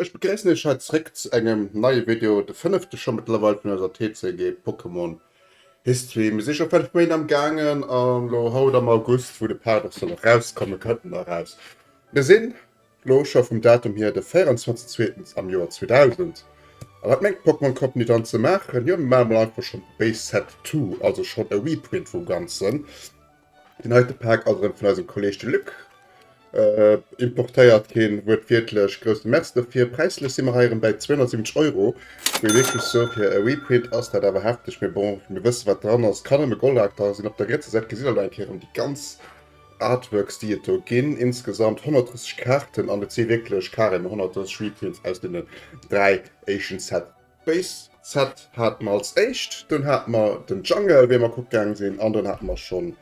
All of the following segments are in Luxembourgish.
Ech begréissen iech hei zréck zu engem neie Video, de fënnefte scho mëttlerweil vun eiser TCG Pokémon History. Mir si scho fënnef Méint am gaangen a lo haut am August, wou de Part och soll erauskommen, kënnt en eraus. Mir sinn lo scho vum Datum hier de 24 zweetens am Joer 2000. A wat mengt d'Pokémon Company dann ze maachen? Jo, mir maache mol einfach schonn Base Set To, also schonn e Reprint vum Ganzen. Deen heite Paak ass erëm vun eisem Kolleg de Luc importéiert ginn. Wuertwiertlech groussen Merci dofir. Präislech si mer hei erëm bäi 270 Euro. Muss ee wierklech soen, fir e Reprint ass dat awer hefteg. Mee bon, mir wësse wat dran ass. Kann nëmme Goldakter sinn. Op der rietser Säit gesitt der elo eng Kéier erëm déi ganz Artworks, déi et do ginn. Insgesamt 130 Kaarten an et si wierklech carrément 130 Reprints aus deenen dräi éischten Sets. Base Set haten mer als éischt, dunn haten mer den Jungle wéi mer kucke gaange sinn an dunn haten mer schonn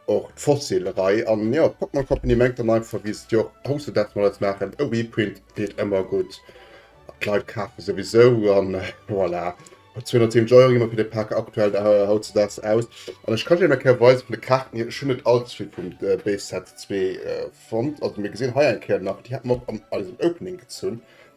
och d'Fossil Rei an jo d'Pokémon Company mengt dann einfach wéi se et jo och hautzedags mol als maachen, e Reprint deet ëmmer gutt an d'Leit kafe souwisou an voilà. Mat 270 Euro gi mer fir de Pak aktuell hautzedags aus an ech kann iech nach eng Kéier weise vun de Kaarten hier, ech hunn net all ze vill vum Base Set zwee fonnt, also mir gesinn hei eng Kéier nach, déi haten mer och an eisem Opening gezunn.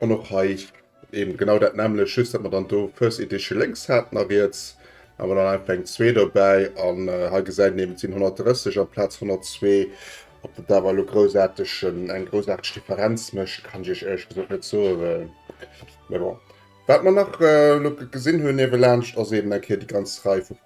An och hei eben genau dat nämmlecht, just datt mer dann do First Edition lénks haten a riets awer dann einfach eng zwee dobäi. An hei gesäit een eben, et sinn 130 amplaz 102. Ob dat awer elo groussaarteg, eng groussaarteg Differenz mécht, kann ech iech éierlech gesot net soen. Mee bon. Wat mer nach elo gesinn hunn niewelaanscht ass eben eng Kéier déi ganz Rei vu.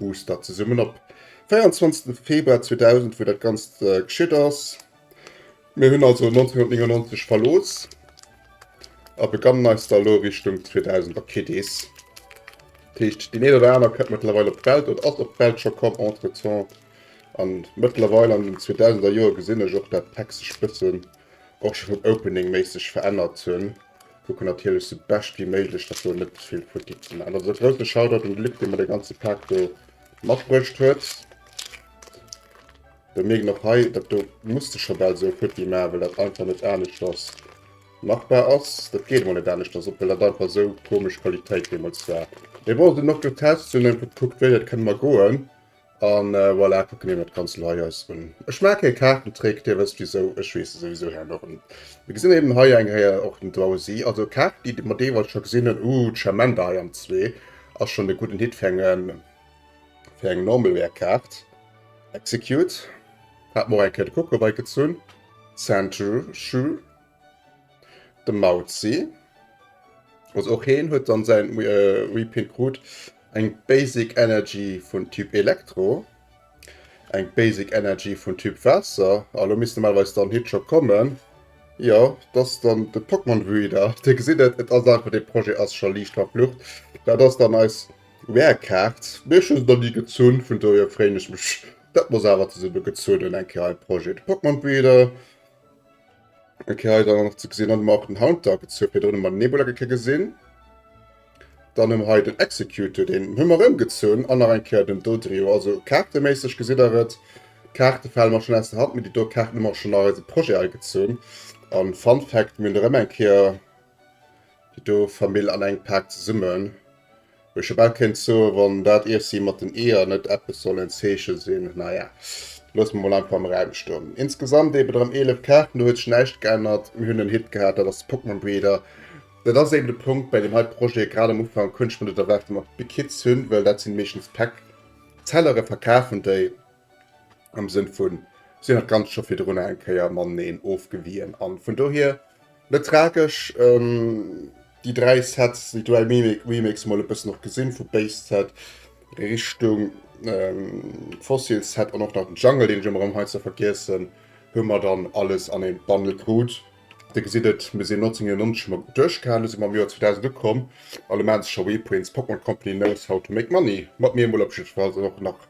Oster zesummen op 24 Februar 2000 wou dat ganz äh, geschitt ass. Mir hunn also 1999 verlooss a begannen eis da lo Richtung 2000 a Kiddies. Techt den een oder aner kënnt mëttlerweil op d'Welt oder ass op d'Welt scho komm entretemps. An mëttlerweil an den 2000er Joer gesinn ech och dat d'Hex sech bëssen och scho vum Opening méisseg verännert hun. Kucken natierlech sou bescht wéi méiglech dass do net zevill futti geet. An also grousse Shoutout un de Luc dee mer de ganze Paak do matbruecht huet. Mir mierken och hei dat do muss de scho bal sou futti maachen well dat einfach net aneschters machbar ass. Dat geet emol net aneschters op well dat einfach sou komesch Qualitéit deemools war. Mee bon, sinn och getest, hunn einfach gekuckt wéi dat kënne mer goen. An voilà, kucken eemol d'Kanzel hei eis un. Ech maache kee Kaartentrick, Dir wësst wisou, ech weess e souwisou hei nach net. Mir gesinn eben hei eng Kéier och den Drowsy, also d'Kaart déi mer deelweis scho gesinn hunn. Ooh, d'Shamanda hei am zwee ass schonn e gudden Hit fir eng fir eng Normalware-Kaart. Execute, hat mer och eng Kéier de Coco bei gezunn. Sandshrew. De Mauzi, also och heen huet dann säin Repaint krut, eng Basic Energy vun Typ Elektro, eng Basic Energy vun Typ Waasser, a lo misst normalerweis dann Hitchcock kommen, jo et ass dann de Pokémon Breeder, dir gesitt et, et ass einfach, dee Projet ass scho liicht verflucht, dat ass dann eis Rare Kaart, mee ech hu se nach ni gezunn, vun dohier freeën ech mech dat mer se awer zesumme gezunn hunn, eng Kéier e Projet, de Pokémon Breeder. Ok, hei dann nach ze gesinn, dann hu mer och den Haunter gezu, fir drënne mer den Nebula ge gesinn. Dann hu mer hei den Executor, deen hu mer ëmgezunn an nach eng Kéier den Dodrio. Also kaarteméisseg gesitt der et, d'Kaarte fale mer schonn aus der Hand, mee déi do Kaarten hu mer och schonn an eise Projet agezunn. A Fun Fact, mir hunn erëm eng Kéier Déi do Famill an eng Paak zesummen, wou ech about kéint soen, wann dat Iessi mat den Eeër net eppes soll en Zeeche sinn, naja, loosse mer mol einfach am Raum stoen. Insgesamt eben erëm 11 Kaarten, do huet sech näischt geännert, mir hunn en Hit gehat, dat ass Pokémon-Breeder. Dat ass eben de Punkt bäi deem hei Projet, grad am Ufank hunn ech mer net erwaart, dass mer Big Hits hunn, well dat sinn meeschtens Pack. Zellere verkafen déi, Am Sënn vun, si hunn dat Ganzt scho virdrun eng Kéier mateneen ofgewien. An vun dohier net tragesch. Ähm, déi dräi Sets, déi dräi Remakes mol e bëssen och gesinn, vu Base Set Richtung ähm, Fossil Set an och nach den Jungle, deen ech ëmmer erëm heiansdo vergiessen, hu mer dann alles an een Bundle krut. Dir gesitt et, mir sinn 1999 hu mer duerchgehalen, elo si mer am Joer 2000 ukomm a lo maache se scho Reprints. Pokémon Company knows how to make money, mat mir emol op jiddwer Fall. Sinn och nach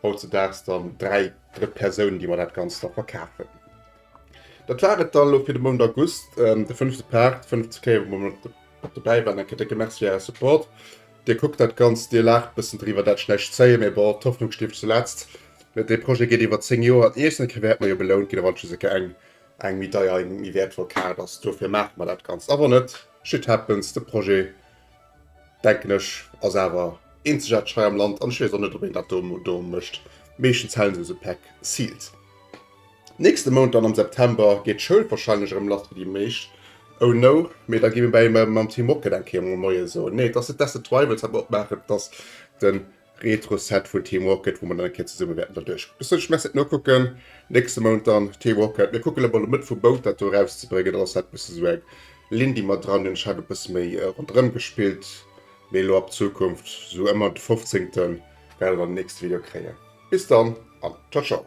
Hautzedaags dann dräi Drëttpersounen, déi mer dat Ganzt da verkafen. Dat war et da elo fir de Mount August, de fënnefte Part, fënnef ze kléieren, wou mer mat dobäi waren. Eng Kéier décke Merci fir Äre Support. Dir kuckt dat Ganzt, Dir laacht e bëssen driwwer, dat schlecht zéien, mee bon, d'Hoffnung stierft zuletzt. Dee Projet geet iwwer zéng Joer an iergendeng Kéier wäerte mer jo belount ginn, a wann et just eng Kéier eng, eng méi deier, eng méi wäertvoll Kaart ass. Dofir maache mer dat Ganzt. A wann net, shit happens, de Projet. Denken ech ass awer eenzegaarteg hei am Land an ech wees och net op een dat do mecht. Meeschtens halen se sou Pack Seals. Nächste Mount dann am September geet d'Schoul wahrscheinlech erëm lass fir déi meescht. Oh no, mee da gi mir bei mam Team Rocket eng Kéier mol Moie soen. Nee et ass net d'Acid Rivals wat mer opmaachen, et ass den Retro-Set vun Team Rocket, wou mer dann eng Kéier zesumme wäerten da duerch bessen Schmesse nokucken. Nächste Mount dann Team Rocket. Mir kucken emol Mëtt vum Mount dat do erauszebréngen. Dann ass dat bësse sou eng Linn, déi mer dran hunn. Ech hat e bësse méi ronderëm gespillt, mee elo ab Zukunft sou ëmmer de fofzéngte wäert der dann den nächste Video kréien. Bis dann an ciao ciao.